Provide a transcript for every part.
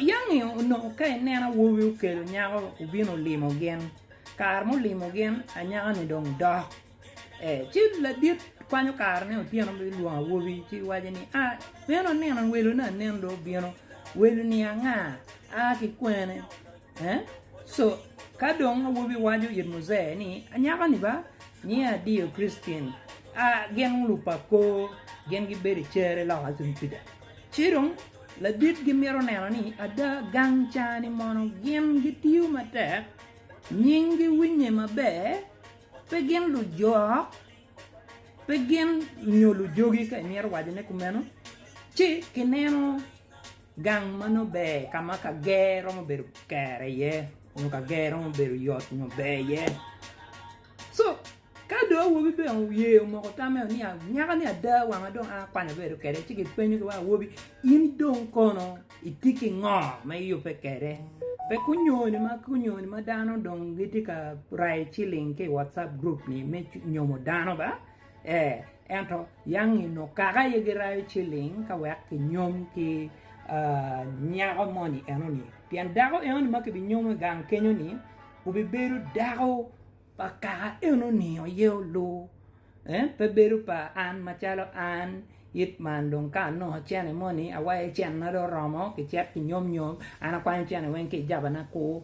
Yangi onongo ka ineno awobi okelo nyako obino limo gin kare ma olimo gin anyaka ni dong dok ci ladit kwanyo kare ne otyeno bilwongo awobi ci waco ni aa meno aneno welo ne anen dong obino welo ni anga aa ki kwene. Ka dong awobi waco it Mujee ni, 'Anyaka-ni ba, nyinge adiyo Christine, a gin lupa kor, gin gibedo i cere loka tung kwija. Ci dong ladit gimito neno ni ada gang ca-ni mono gin gitiyo matek, nyinggi winye maber, pe gin lujok, pe gin nyo lujogi ka imito wacone kumeno, ci kineno Gang ma nongo ber ka ma kager romo bedo kere iye nyo kager romo bedo yot nyo ber iye. Co ka dong awobi bene oye omoko tamme ni nyaka ni ada wanga dong an akwanya bedo kwede ci kipenyo ki wa awobi in dong kono itye ki ngo ma iyubbe kwede pe kunyoni ma kunyoni ma dano dong gitye ka rayo ciling ki i WhatsApp group ni me nyomo dano ba. Ee, ento yangi onongo kaka aye girayo ciling ka wek kinyom ki nyako moni enoni, pien dako enoni ma kibinyomo i gang kenyo-ni obibedo dako pa kaka enoni aye olu, pe bedo pa an macalo an, it man dong ka anongo cene moni awayo cene-na dong oromo kicit kinyomnyom an akwanyo cene weng ki i jabana-ku.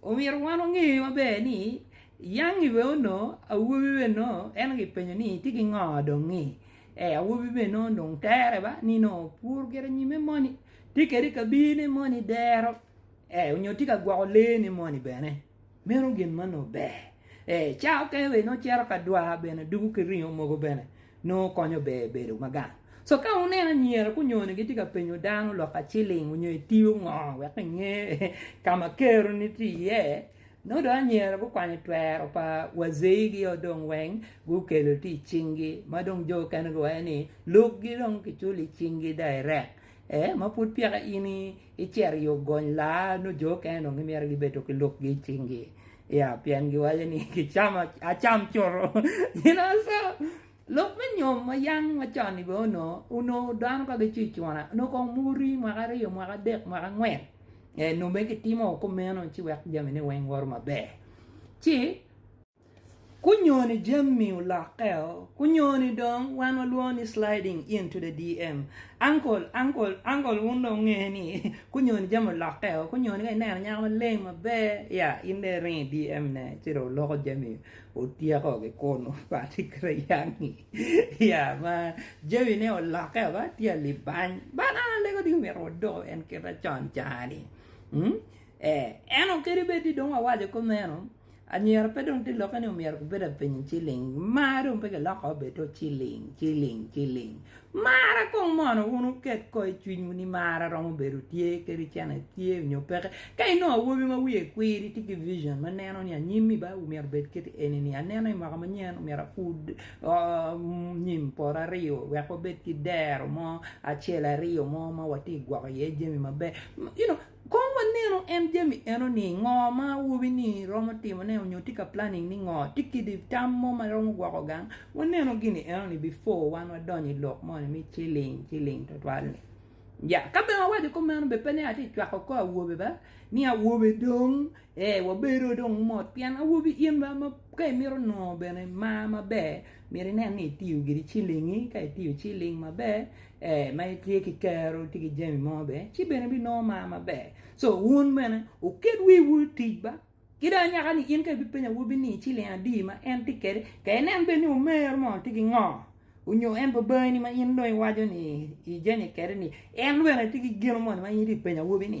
Omyero wan onge maber ni Yangi bene onongo awobi bene nongo en kipenyo ni tye ki ngo dong ngi ee awobi bene nongo dong tere ba ni nongo opur gire nyime moni tye kede kabine moni dero ee nyo tye ka gwoko lee ne moni bene meno gin ma nongo ber ee ca okene bene nongo cito ka dwar bene dugu ki ringo mogo bene nongo konyo ber bedo ma gang. So ka wuneno anyira kunyone gitye ka penyo dano lok aciling onyo itiyo ngo wek inge ka ma keroni tye iye, nongo dong anyira gukwanyo twero pa wazei gi o dong weng gukelo tye icing gi ma dong jo okene giwaco ni lok gi dong kiculo icing gi direct eeh ma pud peka in icito i ogony laa nongo jo okene dong gimito gibedo ki lok gi icing gi. Ya, pien giwaco ni kicamo acam cutu. You know, so lok me nyom ma yang macon-ni bene onongo, onongo dano ka gicwi cuna, onongo kong muri mwaka aryo, mwaka adek, mwaka angwen, ee nongo bene kitimo kumeno ci wek jamine weng woto maber. Ci. Kunyoni jammi olokkeo, kunyoni dong wan walwongo ni sliding into the DM, uncle, uncle, uncle wun dong wunge ni kunyoni jami olokkeo, kunyoni ka ineno nyako maleng maber ya in dong iringo i DM ne ci dong oloko jami otyeko ki kunu party kirayangi ya ma jami ne olokkeo ba tye alibany but an alego dong myero wadoko en kit ma con cani, ento kadi bed ni dong wawaco kumeno. Anyira pe dong tye lokke ni omyero gubed apiny ciling mar dong pe kiloko obed dong ciling ciling ciling mara kong mono wun wuket ko i cwinywu ni mara romo bedo tye kadi cene tye nyo peke ka inongo awobi ma wiye kwir itye ki vision ma neno ni anyimi ba omyero obed kit eni ni aneno i mwaka manyen omyero apur nyim poto aryo wek wabed ki dero mo acel aryo mo ma watye ka gwoko iye jami maber you know. Kong wanenu en jami eno ni ngo ma awobi ni romo timo ne onyo tye ka planning ni ngo tye kidi tam mo ma romo gwoko gang wanenu gini eno ni before wan wadonyo i lok moni me chilling chilling twatwal ni yeah ka bene awaco ko meno be pe ni atye cwako ko awobe ba ni awobe dong ee wabedo dong mot pien awobi in ba ma ka imito nongo bene mar maber myero inen ni itiyo gidi chilling-ngi ka itiyo chilling maber ee ma itye ki kero itye ki jami mo bene ci bene ibinongo mar maber co wun bene wuket wiwu i tic ba ki dong anyaka ni in ka ibipeny awobi ni iciling adi ma en tye kede ka inen bed ni omer mo tye ki ngo onyo en pe bangi ni ma in dong iwaco ni ijenye kede ni en bene tye ki gino moni ma in itye ka penyo awobi ni